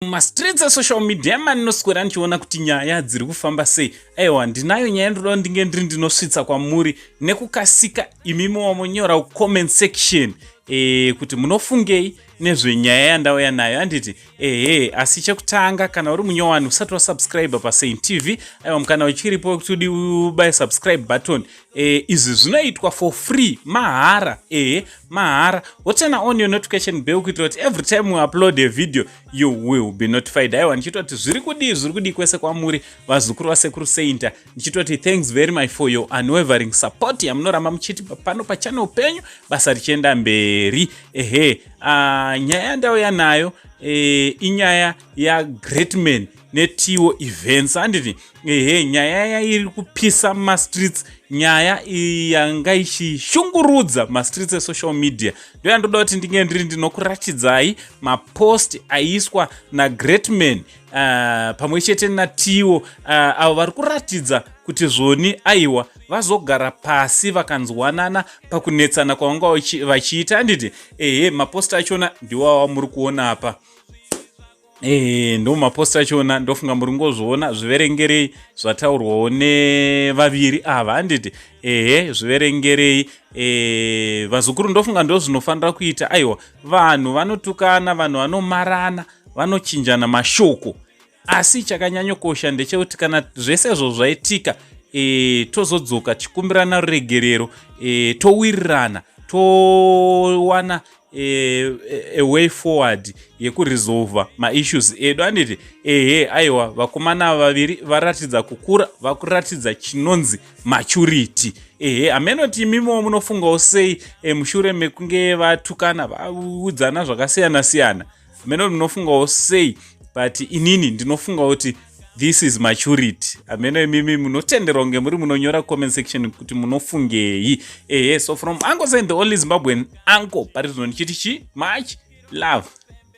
mumastreets esocial media emani noswera ndichiona kuti nyaya dziri kufamba sei aiwa ndinayo nyaya ndinoda ndinge ndiri ndinosvitsa kwamuri nekukasika imimi wamonyora comment section e, kuti munofungei nezvenyaya yandauya nayo anditi ehe asi chekutanga kana uri munyowani usati wasubscribe pasaint tv aiwa mukana uchiripo wekuti udi ubaye subscribe button Eh, izvi zvinoitwa for free mahara ehe mahara woturn on your notification bell kuitira kuti every time we upload a video you will be notified aiwa ndichitoti zviri kudii zviri kudii kwese kwamuri vazukuru vasekuru sainta ndichitoti thanks very much for your unwavering support yamunoramba muchiti pano pachannel penyu basa richienda mberi ehe uh, nyaya yandauya nayo eh, inyaya yagreatman netiwo events anditi ehe nyaya yairi kupisa mumastreets nyaya yanga ichishungurudza mastreets esocial media ndo yandoda kuti ndinge ndiri ndinokuratidzai mapost aiswa nagreat man uh, pamwe chete natiwo uh, avo vari kuratidza kuti zvoni aiwa vazogara pasi vakanzwanana pakunetsana kwavanga vachiita anditi ehe mapost achona ndiwawa muri kuona apa Eh, ndo mapost achona ndofunga muri ngozviona zviverengerei zvataurwawo nevaviri ava handiti ehe zviverengerei eh, vazukuru ndofunga ndo zvinofanira kuita aiwa vanhu vanotukana vanhu vanomarana vanochinjana mashoko asi chakanyanyokosha ndechekuti kana zvese izvo zvaitika eh, tozodzoka tichikumbirana ruregerero towirirana to towana e, e, a way forward yekuresolva maissues edu anditi ehe aiwa vakomana vaviri varatidza kukura vakuratidza chinonzi maturity ehe hamenoti imimiwo munofungawo sei e, mushure mekunge vatukana vaudzana zvakasiyana siyana, siyana. hameno munofungawo sei but inini ndinofunga kuti this is maturity hameno imimi munotenderwa kunge muri munonyora comment section kuti munofungei ehe so from uncle sain the only zimbabwean uncle pari zvino ndichiti chi much love